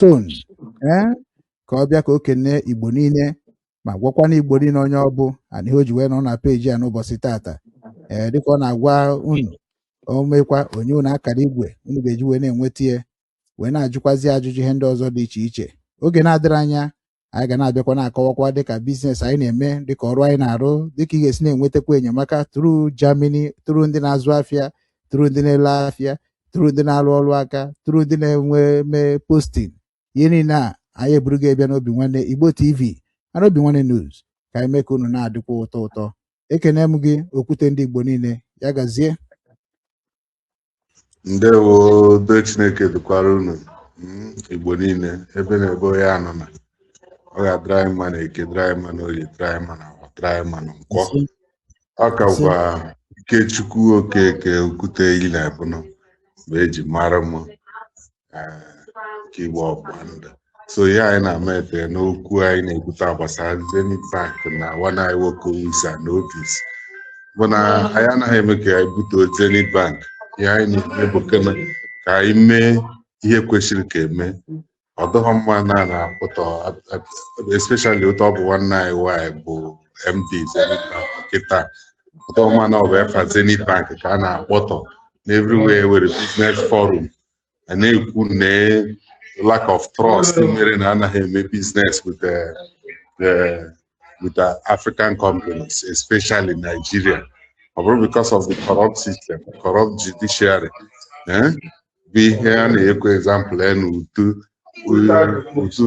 ton ee eh, ka ọ bịa ka o kene igbo niile ma gwakwa na igbo niile onye ọ bụ ana ihe o ji wee nọ na peji a n'ụbọchị tata ee eh, dịka ọ na-agwa unu o mekwa o nye unu akara igwe unu ga-eji wee na-enweta ya wee na-ajụkwazi ajụjụ ihe ndị ọzọ dị iche iche oge na-adịrị anya anyị ga na-abịakwa na-akọwakwa dịka biznes anyị na-eme dịka ọrụ anyị na-arụ dịka ị ga-esi na-enwetakwa enyemaka tru Germany tru ndị na-azụ afịa tru ndị na-ele afịa tru ndị na-arụ ọrụ aka tru ndị na-eme postin ihe niile a anyị eburu gị ebịa n'Obinwannem Igbo TV ana Obinwannem News ka anyị mee ka unu na-adịkwa ụtọ ụtọ ekene m gị okwute ndị Igbo niile ya gazie ndewo udo chineke dịkwara unu mm, igbo niile ebe na ebe onye nọ na ọ ga-adịrị anyị mma na eke dịrị anyị mma na oye dịrị anyị mma na awọ dịrị anyị mma na nkwọ ọ ka gwa ikechukwu okeke okwute iyi na ebụnụ bụ eji mara m nke igbo ọgbụgba ndụ so ihe anyị na-ama efe n'okwu anyị na-ekwute gbasara Zenith Bank na nwanne anyị nwoke Usa na Otis bụ na anyị anaghị eme ka anyị butuo Zenith Bank ihe anyị na-eme bụ ka anyị mee ihe kwesịrị ka eme ọ dịghị mma na a na-akpọtọ especially otu ọ bụ nwanne anyị nwanyị bụ MD Zenith Bank kịta ọ dịghị mma na ọ bụ efa Zenith Bank ka a na-akpọtọ n'everywhere were business forum a na-ekwu na lack of trust mere na anaghị eme business with the, the with the African companies especially Nigeria ọ bụrụ because of the corrupt system corrupt judiciary eh? bụ ihe a na-ekwu example ya na utu utu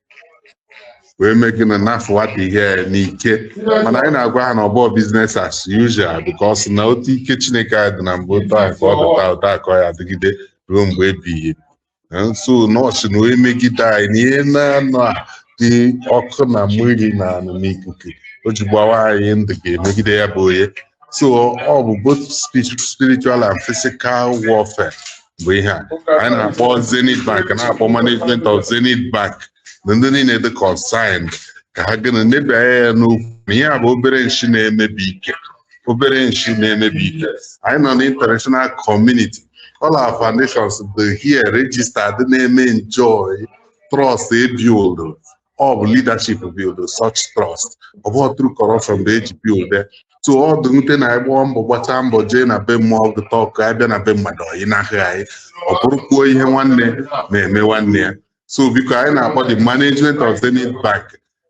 wee mee gị na na-afụwata ihe ya n'ike mana anyị na-agwa ha na ọ bụghị biznes as usual because na otu ike Chineke anyị dị na mbụ otu ahụ ka ọ dị taa otu a ka ọ ya-adịgide ruo mgbe ebighị ebi. So nọọsụ na onye megide anyị na ihe naanọ a dị ọkụ na mmiri na anị na ikuku o ji gbawa anyị ndụ ga-emegide ya bụ onye so ọ bụ both spi- spiritual and physical warfare bụ ihe a anyị na-akpọ zenith bank na-akpọ management of zenith bank na ndị niile dị concerned ka ha gịnị nebe anya n'okwu na ihe a bụ obere nshi na-emebi ike obere nshi na-emebi ike anyị nọ na international community all our foundations dị here registered na-eme enjoy trust ebuild ọ bụ leadership build such trust ọ bụghị through corruption bụ eji build so ọ dị nwute na anyị gbaa mbọ gbachaa mbọ jee na be mmụọ ọgụ tọk anyị bịa na be mmadụ ọyị n'ahịa anyị ọ bụrụkwuo ihe nwanne na-eme nwanne ya so biko anyị na-akpọ the management of Zenith Bank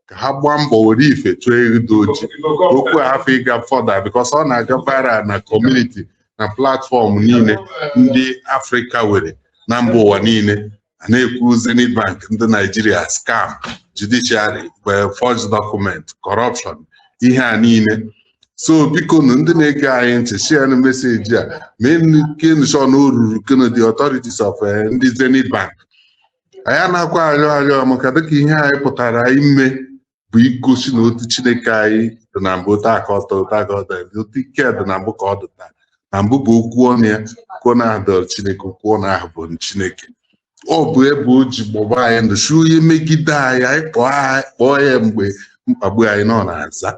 ka ha gbaa mbọ were ife chụọ ewu dị oji okwu hafụ ịga fọda bikos ọ na-aga viral na kọmuniti na platfọm niile ndị afrịka were na mba ụwa niile a na-ekwu Zenith Bank ndị Naijiria scam judiciary forged document corruption ihe a niile so biko nụ ndị na-ege anyị ntị share nụ message a make nụ sure na o rurukwanụ the authorities of eh, ndị Zenith Bank anyị anaghịkwa arịọ arịọ maka dịka ihe anyị pụtara ime bụ igosi na otu chineke anyị dị na mbụ taa ka ọtọ taa ka ọtọ dị otu ike dị na mbụ ka ọ dị taa na mbụ bụ okwu ọnụ ya okwu ọnụ ahụ dọrọ chineke okwu ọnụ ahụ bụ chineke ọ bụ ebe o ji gbọba anyị ndụ sị onye megide anyị anyị kpọọ anyị kpọọ ya mgbe mkpagbu anyị nọ na-aza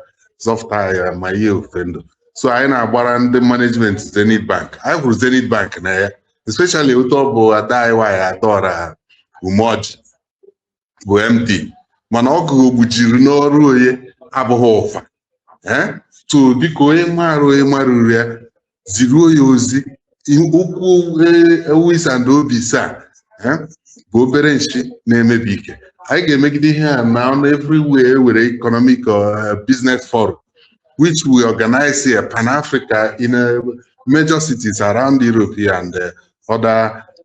zọpụta anyị ma ihe ofe ndụ so anyị na-agwa ndị management Zenith Bank anyị hụrụ Zenith Bank n'anya especially otu ọ bụ ada anyị nwaanyị Adaọra Umeọjị bụ MD mana ọgụ gbujiri n'ọrụ onye abụghị ụfa ee so biko onye maara onye marụrụ ya ziruo ya ozi okwu ewu isa na obi saa bụ obere nshi na-emebi ike anyị ga-emegide ihe a na ọnụ everywhere e nwere economic uh, business forum which we organize here Pan Africa in a uh, major cities around Europe and uh, other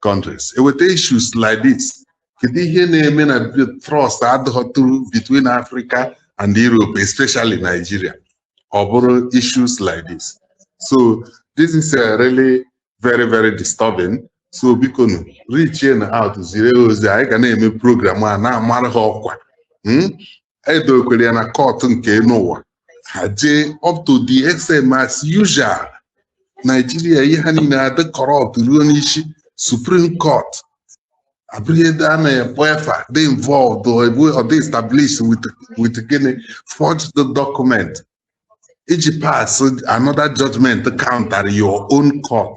countries e weta issues like this kedu ihe na-eme na trust adịtụrọ between Africa and Europe especially Nigeria ọ bụrụ issues like this so this is uh, really very very disturbing so biko nụ reach out zire ozi anyị ga na-eme program a na-amara ha ọkwa hmm? e dokwere ya na kọtụ nke elu ụwa ha jee up to the extent ma as usual Naijiria ihe ha niile adị corrupt ruo n'isi supreme court abụrụ ebe a na-ekpe efa dị involved or ebu or dị established with with gịnị forged document iji pass another judgment counter your own court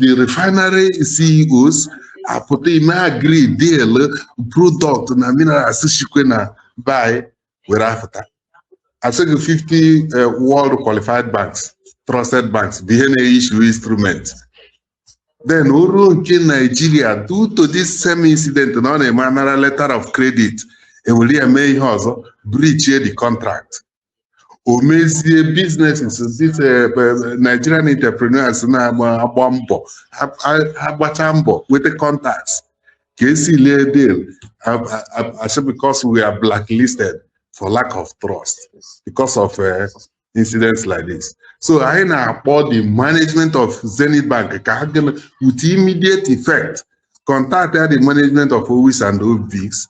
the refinery CEOs apụta ime agree deal product na minerals chikwe na buy were apụta a sị gị 50 eh, world qualified banks trusted banks bụ ihe na-issue instrument then o ruo nke Nigeria due to this same incident na ọ na-eme a nara letter of credit e were ya mee ihe ọzọ breach-ie the contract o mezie businesses ndị eh, eh, Nigerian entrepreneurs na-agba mbọ ha gbachaa mbọ nweta contacts ka e seal-ie deal a sị because we are blacklisted for lack of trust because of eh, incidents like this so anyị na-akpọ the management of Zenith Bank ka ha gịnị with immediate effect contact the management of Owis and Obis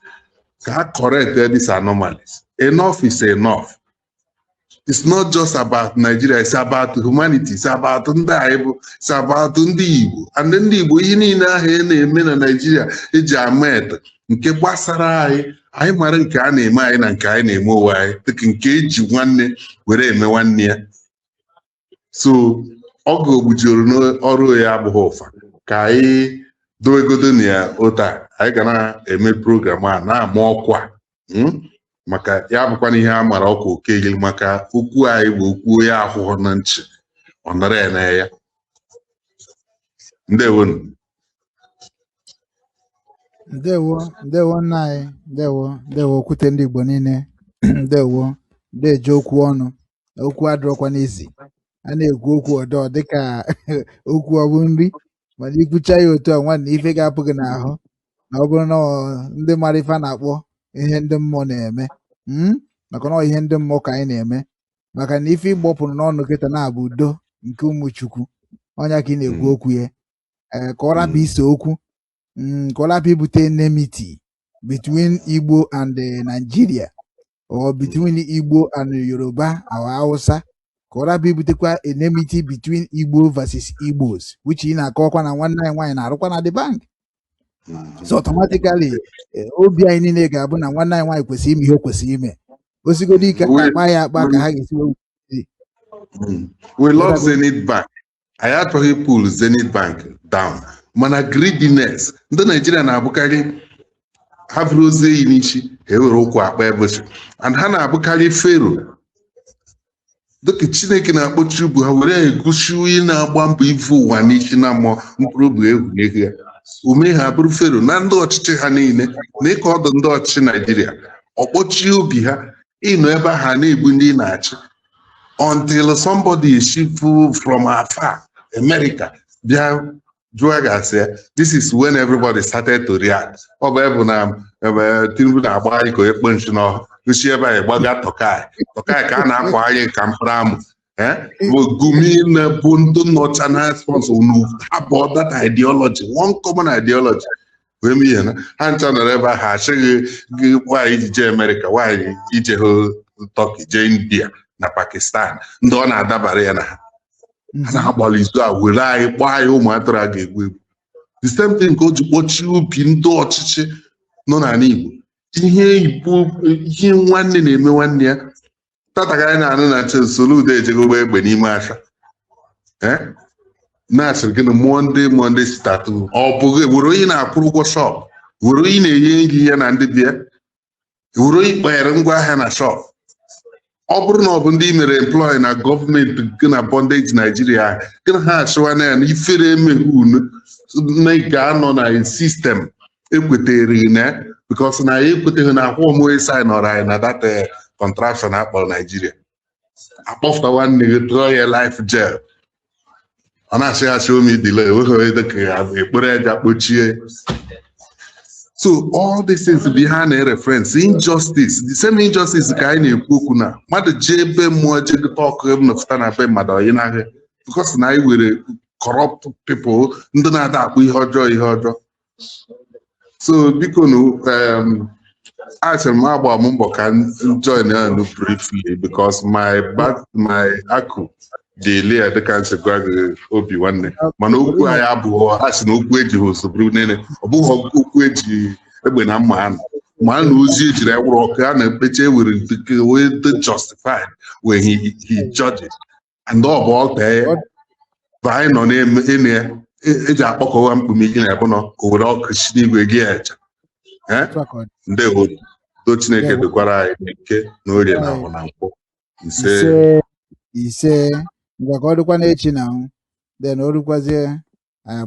ka ha correct these anomalies enough is enough it's not just about Nigeria it's about humanity it's about ndị anyị bụ it's about ndị Igbo and ndị Igbo ihe niile ahụ a na-eme na Nigeria eji amata nke gbasara anyị anyị mara nke a na-eme anyị na nke anyị na-eme onwe anyị dịka nke eji nwanne were eme nwanne ya so ọ ga-ogbujuru n'ọrụ ya abụghị ụfa ka anyị dowegodo na ya otu a anyị ga na-eme program a na-ama ọkwa hmm? maka ya bụkwa na ihe a mara ọkwa okeghi maka okwu anyị bụ okwu onye ahụhụ na nchi ọ nara ya na ya ndewonu ndewo ndewo nna anyị ndewo ndewo okwute ndị Igbo niile ndewo deje okwu ọnụ okwu adịrọkwanụ easy a na-ekwu okwu ọdọ dịka okwu ọ bụ nri mana i kwucha ya otu a nwanne ife ga-apụ gị n'ahụ na ọ bụrụ na ọ ndị mara ife a na-akpọ ihe ndị mmụọ na-eme mm, maka na ọ ihe ndị mmụọ ka anyị na-eme maka na ife ị gbọpụrụ n'ọnụ kịta na-abụ udo nke ụmụ chukwu ọ nya ka ị na-ekwu Mm. okwu ya ee ka ọ rapụ Mm. ise okwu mm, ka ọ lapụ ibute enmity between Igbo and eh, Nigeria or between Igbo and Yoruba or Hausa ka ọ lapụ ibutekwa enmity between Igbo versus Igbos which ị na-akọkwa na nwanne anyị nwaanyị na-arụkwa na the bank so automatically eh, obi anyị niile ga-abụ na nwanne anyị nwaanyị kwesịrị ime ihe o kwesịrị ime osigodi ike akpa ya akpa ka ha ga-esi we love Zenith Bank anyị achọghị pull Zenith Bank down mana greediness ndị Naijiria na-abụkarị ha buru ozu enyi n'isi ha ewere ụkwụ akpa ebochi and ha na-abụkarị fero dịka chineke na-akpọchi obi ha were egosi onye na-agba mbọ ivu ụwa n'isi na mmụọ mkpụrụ obi egwu n'ego ya o mee ha abụrụ fero na ndị ọchịchị ha niile nya ka ọ dụ ndị ọchịchị naijiria ọ kpọchie obi ha ị nọ ebe ha na-egbu ndị na-achị until somebody shift from afar America bịa jụọ ga-asị ya this is when everybody started to react ọ bụ ebe na ebe Tinubu na-agba anyị ka onye kpo nchi n'ọhụ shi ebe a gbaga Turkey Turkey ka a na-akwa anyị ka mkpụrụ amụ eh? bụ gumi na-ebu ndị nnọcha na sponsor unu abụọ that ideology one common ideology wee mee ihe na ha ncha nọrọ ebe ahụ asị gị why i ji jee amerịka why i jehọ Turkey jee india na pakistan ndị ọ na-adabara ya na ha a na-agbalị izu a were anyị kpọọ anyị ụmụ atụrụ a ga-egbu egbu the same thing ka o ji kpọchie obi ndị ọchịchị nọ n'ala igbo ihe igbo ihe nwanne na-eme nwanne ya tata ka anyị na-anụ na Soludo ejego gbaa egbe n'ime asha eh? na-asịrị gị na Monday Monday sit at home ọ bụghị were onye na-akwụrụ ụgwọ shop were onye na-enye nri ya na ndị be ya were onye kpanyere ngwa ahịa na shop ọ bụrụ na ọ bụ ndị i mere employ na gọọmenti gị na bondage Nigeria gị na ha achịwa na ya na ifere emeghe unu na ga-anọ na system ekwetere na because na ya ekweteghị na akwụkwọ moye sign ọrụ anyị na that eh, contraption akpọrọ Nigeria akpọfụta nwanne gị tụọ ya life jail ọ na-achị achị omi dile enweghị onye dịka ya ekpere aja kpochie so all these things bụ ihe a na-reference injustice the same injustice ka anyị na-ekwu okwu na mmadụ jee be mmụọ jee gụta ọkụ nọpụta na be mmadụ ọyị n'ahịa because na anyị were corrupt people ndị na-ada akpọ ihe ọjọọ ihe ọjọọ so biko nu um, achọrọ m agba m mbọ ka m join unu briefly because my back my akụ dị ele ya dịka m si gwa gị Obinwanne mana okwu anyị abụọ a sị na okwu eji ha ụzọ bụrụ niile ọ bụghị okwu eji egbe na mma anụ ma a na ozi ejiri anwụrụ ọkụ a na-ekpecha ewere nke wee dị justified when he, he judge it. and ọ bụ altar ya Ọ- bụ anyị nọ na-eme ịnụ ya e- eji akpọkọwa mkpume gị na ebe nọ o were ọkụ si n'igwe gị ya echa Eh? otu a ka ọ dị. ndewo do Chineke Ndewo. dukwara anyị n'Eke na Orie na Ahọ na Nkwọ ise ise ise ngwa ka ọ dịkwa n'echi na anwụ then o dukwazie anyị